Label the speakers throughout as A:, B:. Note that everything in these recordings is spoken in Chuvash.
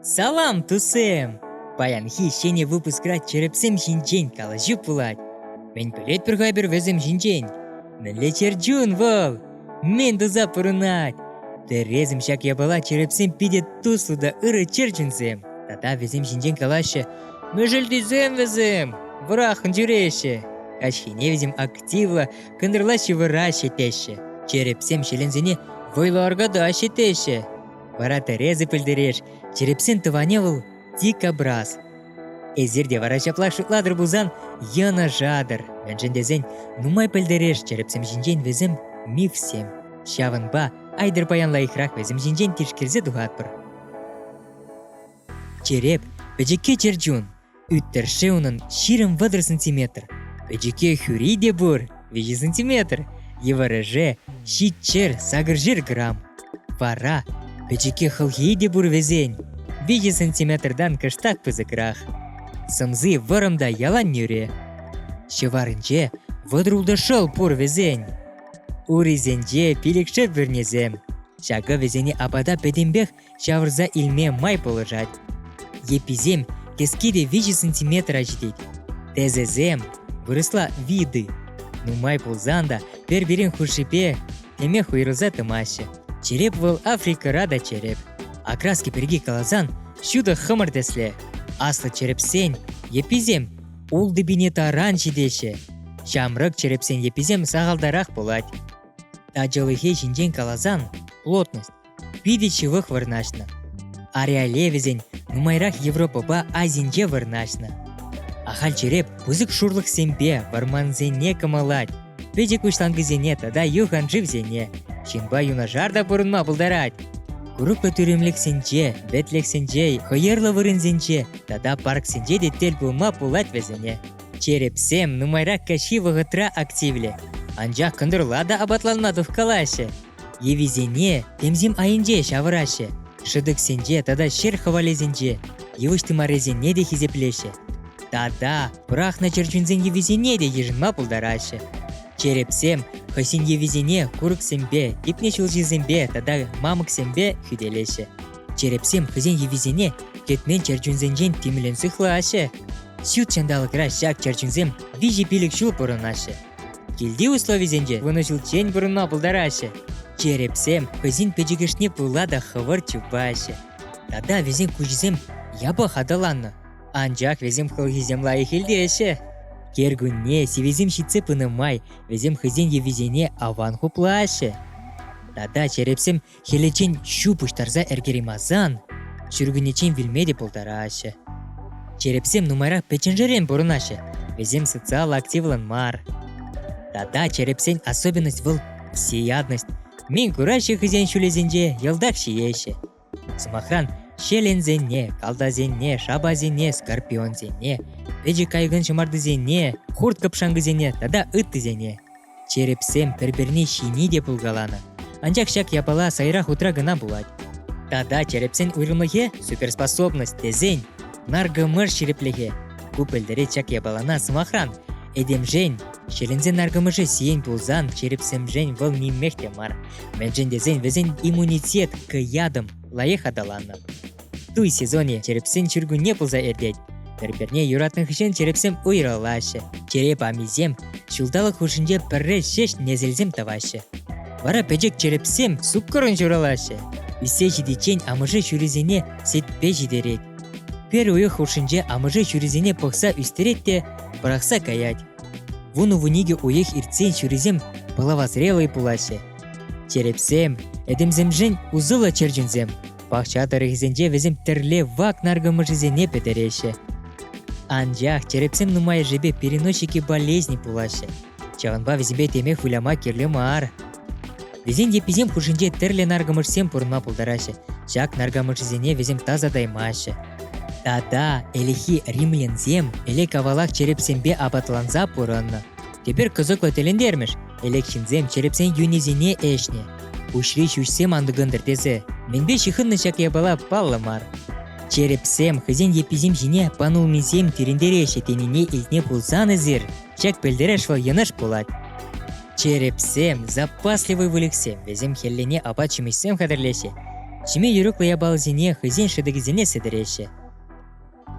A: Салам, тусем! Паянхи ҫӗнӗ выпускра чӗрӗпсем ҫинчен калаҫу пулать. Мӗн пӗлетпӗр ха эпир вӗсем ҫинчен? Мӗнле чӗрчун вӑл? Мӗн туса пурӑнать? Тӗресӗм ҫак япала чӗрӗпсем питӗ туслӑ та ырӑ чӗрчунсем. Тата вӗсем ҫинчен калаҫҫӗ. Мӗшӗлтисем вӗсем вӑраххӑн ҫӳреҫҫӗ. Каҫхине вӗсем активлӑ кӑнтӑрла ҫывӑраҫҫӗ теҫҫӗ. Чӗрӗпсем ҫӗленсене вӑйлӑ аркатаҫҫӗ теҫҫӗ. Вара тӗресӗр пӗлтереш, черепсен тӑванӗ вӑл дикобраз. Эсир те вара ҫапла шутлатӑр пулсан йӑнӑшатӑр, мӗншӗн тесен нумай пӗлтереш черепсем ҫинчен вӗсем мифсем. Ҫавӑнпа айтӑр паян лайӑхрах вӗсем ҫинчен тишкерсе тухатпӑр. Череп – пӗчӗкке чӗр чун. Ӳт-тӗршшӗ унӑн ҫирӗм вӑтӑр сантиметр. Пӗчӗке хӳри те пур, виҫӗ сантиметр. Йывӑрӑшӗ ҫичшер сакӑршер грамм. Вара пӗчӗке хӑлхи те пур вӗсен. Виҫӗ сантиметртан кӑштах пысӑкрах. Сӑмси вӑрӑм та ялан нӳрӗ. Ҫӑварӗнче вӑтӑр ултӑ шӑл пур вӗсен. Урисенче пилӗкшер пӳрнесем. Ҫакӑ вӗсене апата пӗтӗмпех ҫавӑрса илме май пулӑшать. Йӗпписем кӗске те виҫӗ сантиметра ҫитет. Тӗсӗсем вырӑсла виды. Нумай пулсан та пӗр-пирин хушшипе тӗмех уйрӑлса тӑмаҫҫӗ. Череп вӑл Африкӑра та череп. Окраски пирки каласан ҫутӑ хӑмӑр тӗслӗ. Аслӑ черепсен йӗпписем ултипине таран ҫитеҫҫӗ. Ҫамрӑк черепсен йӗпписем сахалтарах пулать. Ачалӑхе ҫинчен каласан плотность питӗ ҫывӑх вырнаҫнӑ. Ареале вӗсен нумайрах Европӑпа Азинче вырнаҫнӑ. Ахаль череп пысӑк шурлӑхсемпе вӑрмансене кӑмӑлать. Пӗчӗк уҫланкӑсене тата юханшывсене ҫынпа юнашар та пурӑнма пултарать. Курӑклӑ тӳремлӗхсенче, вӗтлӗхсенче, хӑйӑрлӑ вырӑнсенче тата парксенче те тӗл пулма пулать вӗсене. Черепсем нумайракка ҫивӗ вӑхӑтра активлӗ, анчах кӑнтӑрла та апатланма тухкалаҫҫӗ. Йӑвисене тӗмсем айӗнче ҫавӑраҫҫӗ, шӑтӑксенче тата ҫӗр хӑвалӗсенче йывӑҫ тымарӗсене те хисеплеҫҫӗ. Тата пӑрахнӑ чӗрчунсен йӑвисене те йышӑнма пултараҫҫӗ. Черепсем хӑйсен йӑвисене курӑксемпе, типнӗ ҫулҫисемпе тата мамӑксемпе хӳтӗлеҫҫӗ. Черепсем хӑйсен йӑвисене кӗтмен чӗрчунсенчен тимлӗн сыхлаҫҫӗ. Ҫут ҫанталӑкра ҫак чӗрчунсем виҫӗ пилӗк ҫул пурӑнаҫҫӗ. Килти условисенче вунӑҫулччен пурӑнма пултараҫҫӗ. Черепсем хӑйсен пӗчӗкӗшне пула та хӑвӑрт чупаҫҫӗ. Тата вӗсен куҫӗсем япах аталаннӑ. Анчах вӗсем хӑлхисем лайӑх илтеҫҫӗ. Кӗркунне сивӗсем ҫитсе пынӑ май вӗсем хӑйсен йӑвисене аван хуплаҫҫӗ. Тата черепсем Хӗлӗчен ҫу пуҫтарса ӗркеремасан ҫуркуннечен вилме те пултараҫҫӗ. Черепсем нумайрах пӗчченшерен пурӑнаҫҫӗ, вӗсем социаллӑ активлӑн мар. Тата черепсен особенность вӑл всеядность. Мин кураҫҫӗ хӑйсен ҫулӗсенче йӑлтах ҫиеҫҫӗ. Сӑмахран, ҫеленсене, калтасене, шапасене, скорпионсене, пӗчӗк кайӑкӑн ҫӑмартисене, хурт-кӑпшанкӑсене тата ыттисене. Черепсем пӗр-пӗрне ҫини те пулкаланӑ, анчах ҫак япала сайра хутра кӑна пулать. Тата черепсен уйрӑмлӑхӗ – суперспособность тесен наркӑмӑш ҫирӗплӗхӗ. Ку пӗлтерет ҫак япалана сӑмахран. Этемшен, ҫӗленсе наркӑмӑшӗ сиен пулсан, черепсемшен вӑл нимех те мар. Мӗншӗн тесен вӗсен иммунитет к ядам лайӑх аталаннӑ. туй сезонӗ черепсен ҫуркунне пулса иртет. Пӗр-пӗрне юратнӑ хыҫҫӑн черепсем уйрӑлаҫҫӗ, чӗре памисем ҫулталӑк хушшинче пӗрре ҫеҫ несӗлсем тӑваҫҫӗ. Вара пӗчӗк черепсем суккӑрӑн ҫуралаҫҫӗ. Ӳссе ҫитиччен амӑшӗ ҫурисене сетпе ҫитерет. Пӗр уйӑх хушшинче амӑшӗ ҫурисене пӑхса ӳстерет те пӑрахса каять. Вун-вун икӗ уйӑх иртсен ҫурисем пӑлавасреллӑй пулаҫҫӗ. Черепсем, этемсемшӗн усӑллӑ чӗрчунсем, Пахча тӑрӑхӗсенче вӗсем тӗрле вак наркӑмӑшӗсене пӗтереҫҫӗ. Анчах черепсем нумайӑшӗпе переносчики болезни пулаҫҫӗ. Ҫавӑнпа вӗсемпе теме выляма кирлӗ мар. Вӗсен йӗпписем хушшинче тӗрлӗ наркӑмӑшсем пурӑнма пултараҫҫӗ. Ҫак наркӑмӑшсене вӗсем тасатаймаҫҫӗ. Тата ӗлӗкхи римлянсем ӗлӗк-авалах черепсемпе апатланса пурӑннӑ. Тепер кӑсӑклӑ тӗлӗнтермӗш, ӗлӗк ҫынсем черепсен юнӗсене ӗҫнӗ. Пуҫри ҫӳҫсем антӑкӑнтӑр тесе мӗнпе ҫыхӑннӑ ҫак япала паллӑ мар. Черепсем хӑйсен йӗпписем ҫине панулмисем тирӗнтереҫҫӗ тенине илтме пулсан эсир ҫак пӗлтереш вӑл йӑнӑш пулать. Черепсем запасливый выльӑхсем, вӗсем хӗллене апат-ҫимӗҫсем хатӗрлеҫҫӗ, ҫиме юрӑклӑ япаласене хӑйсен шӑтӑкӗсене сӗтӗреҫҫӗ.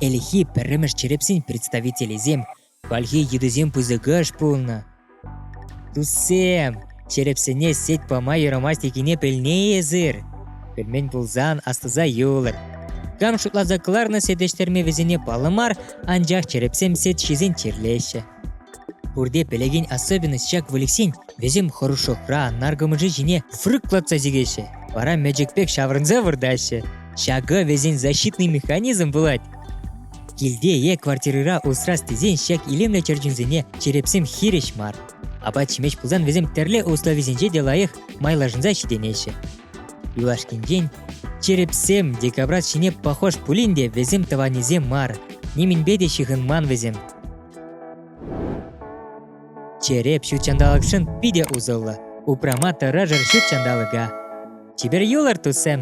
A: Ӗлӗкхи пӗрремӗш черепсен представителӗсем Хальхи йытӑсем пысӑкӑш пулнӑ. Туссем, черепсене сет пама юрамасть текене пӗлнӗ эсир. Пӗлмен пулсан астуса юлӑр. Кам шутласа кӑларнӑ сетӗштерме вӗсене паллӑ мар, анчах черепсем сет ҫисен чирлеҫҫӗ. Пурте пӗлекен особенность ҫак выльӑхсен вӗсем хӑрушӑхра наркӑмӑшӗ ҫине фрыклатса чикеҫҫӗ, вара мечӗк пек ҫаврӑнса выртаҫҫӗ. Ҫакӑ вӗсен защитный механизм пулать. Килте е квартирӑра усрас тесен ҫак илемлӗ чӗрчунсене черепсем хирӗҫ мар. Апат-ҫимӗҫ пулсан вӗсем тӗрлӗ условисенче те лайӑх майлашӑнса ҫитӗнеҫҫӗ. Юлашкинчен черепсем декабрат ҫине похож пулин те вӗсем тӑванӗсем мар, нимӗнпе те ҫыхӑнман вӗсем. Череп ҫут ҫанталӑкшӑн питӗ усӑллӑ. Упрама тӑрӑшӑр ҫут ҫанталӑка. Чипер юлӑр, туссем!